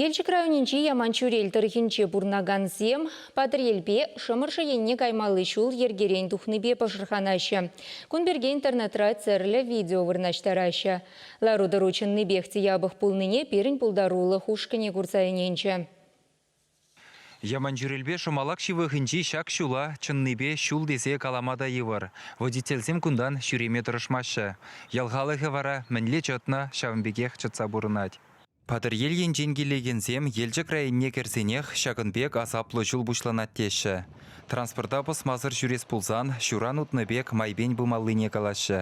Елчӗк районӗнчи Яманчӳрел тӑрӑхӗнче пурӑнакансем Патӑрьелпе Шӑмӑршӑ енне каймалли ҫул йӗркерен тухнипе пӑшӑрханаҫҫӗ. Кун пирки интернетра тӗрлӗ видео вырнаҫтараҫҫӗ. Лару-тӑру чӑннипех те япӑх пулнине пирӗн пултарулӑх ушкӑнӗ курса ӗненчӗ. Яманчӳрелпе Шӑмалак ҫывӑхӗнчи ҫак ҫула чӑннипе ҫул тесе калама та йывӑр. Водительсем кунтан ҫӳреме тӑрӑшмаҫҫӗ. Ял халӑхӗ вара мӗнле чӑтнӑ, ҫавӑн пекех чӑтса пурӑнать. Патӑрьел енчен килекенсем Елчӗк районне кӗрсенех ҫакӑн пек асаплӑ ҫул пуҫланать теҫҫӗ. Транспорта пӑсмасӑр ҫӳрес пулсан ҫуран утнӑ пек майпен пымаллине калаҫҫӗ.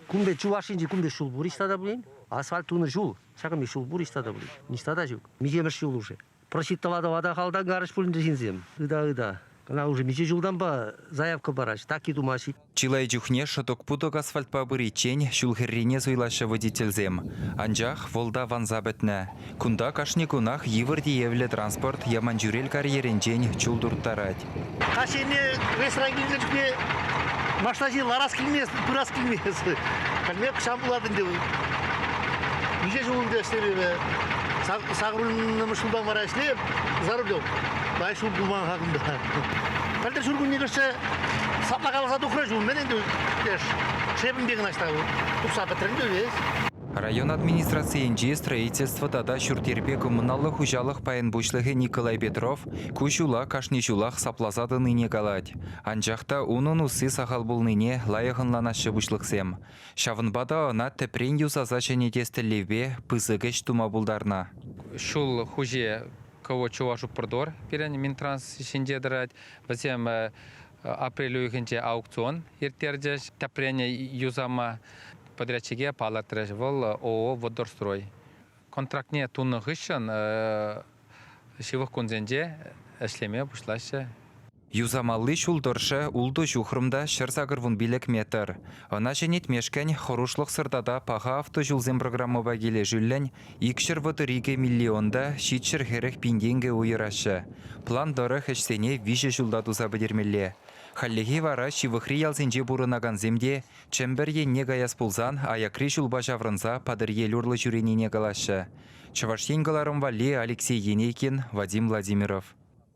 Кунти чуваш енчи кунти ҫул пур ниҫта та пулин. Асфальт тунӑ ҫул ҫакӑн ҫул пур ниҫта та пулин. Ниҫта та ҫук. Миҫемӗш ҫул уже. Просчитала тӑвата халтан карӑҫ пулин ҫынсем. Ыта-ыта. Кӑна уже миҫе ҫултанпа заявка параҫ, таки тумаҫ. Чылай чухне шӑтӑк-путӑк асфальтпа пыриччен ҫул хӗррине суйлаҫҫӗ водительсем. Анчах вӑл та ванса пӗтнӗ. Кунта кашни кунах йывӑр тиевлӗ транспорт Яманчӳрел карьерӗнчен чул турттарать. Каҫхине рейсра килнӗшпе машинасене ларас килмест, пырас килмест. Пӗлмеп ҫав пулать ӗнтӗ. Миҫе ҫул ӗнтӗ ӗҫлемепе. Сакӑрмӗш ҫултан вара ӗҫлеп, за рулем. Пай ҫул пулман-ха кунта. Пӗлтӗр ҫуркунне кӗрсе сапла каласа тухрӗ ҫул мӗн ӗнтӗ леш. Шепӗнпе кӑна ҫта утса пӗтрӗ ӗнтӗ весь. Район администрацийӗнчи строительство тата ҫурт-йӗрпе коммуналлӑ хуҫалӑх пайӗн пуҫлӑхӗ Николай Петров ку ҫула кашни ҫулах сапласа тӑнине калать. Анчах та унӑн усси сахал пулнине лайӑх ӑнланаҫҫӗ пуҫлӑхсем. Ҫавӑнпа та ӑна тӗпрен юсаса ҫӗнетес тӗллевпе пысӑк ӗҫ тума пултарнӑ. Ҫул хуҫи Кӑвӑт Чувашупрдор пирӗн Минтранс ҫинче тӑрать. Вӗсем апрель уйӑхӗнче аукцион ирттерчӗҫ. Тӗпрен юсама Подрядчике палӑртрӗҫ, вӑл ООО Водорстрой контрактне тунӑ хыҫҫӑн ҫывӑх кунсенче ӗҫлеме пуҫлаҫҫӗ. Юсамалли ҫул тӑршшӗ ултӑ ҫухрӑм та ҫӗр сакӑр вун пилӗк метр. Ӑна ҫӗнетмешкӗн хӑрушлӑхсӑр тата паха автоҫулсем программӑпа килӗшӳллӗн икҫӗр вӑтӑр икӗ миллионта ҫичҫӗр хӗрӗх пин тенкӗ уйӑраҫҫӗ. План тӑрӑх ӗҫсене виҫӗ ҫулта туса пӗтермелле. Хальлӗхе вара ҫывӑхри ялсенче пурӑнакансем те Чӗмпӗр енне каяс пулсан аякри ҫулпа ҫаврӑнса Патӑрьел урлӑ ҫӳренине калаҫҫӗ Чӑваш Ен кӑларӑм валли Алексей Енейкин, Вадим Владимиров.